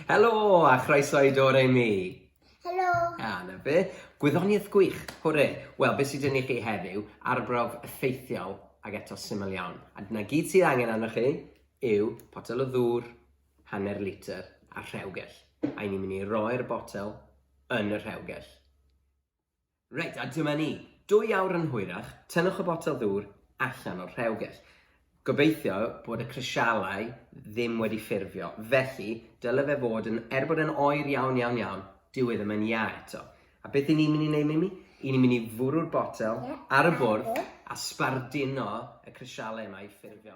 Helo a chroeso i Dore Mi. Helo. A, na fe. Gwyddoniaeth gwych, hwre. Wel, beth sydd dyn i chi heddiw? Arbrawf effeithiol ac eto syml iawn. A dyna gyd sydd angen arnoch chi yw potel o ddŵr, hanner litr a rhewgell. A ni'n mynd i roi'r botel yn y rhewgell. Reit, a dyma ni. Dwy awr yn hwyrach, tynnwch y botel ddŵr allan o'r rhewgell. Gobeithio bod y crisialau ddim wedi ffurfio, felly dyle fe fod yn, er bod yn oer iawn, iawn, iawn, dyw e ddim yn ia eto. A beth i ni'n mynd i wneud, Mimi? I ni'n mynd i fwrw'r botel ar y bwrdd a sbardino y crisialau yma i ffurfio.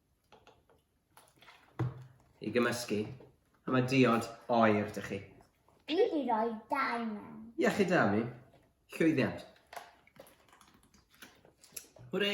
i gymysgu, a mae diod oer dych chi. Dwi i roi dau mewn. Iechyd da mi, llwyddiant. Hwrê!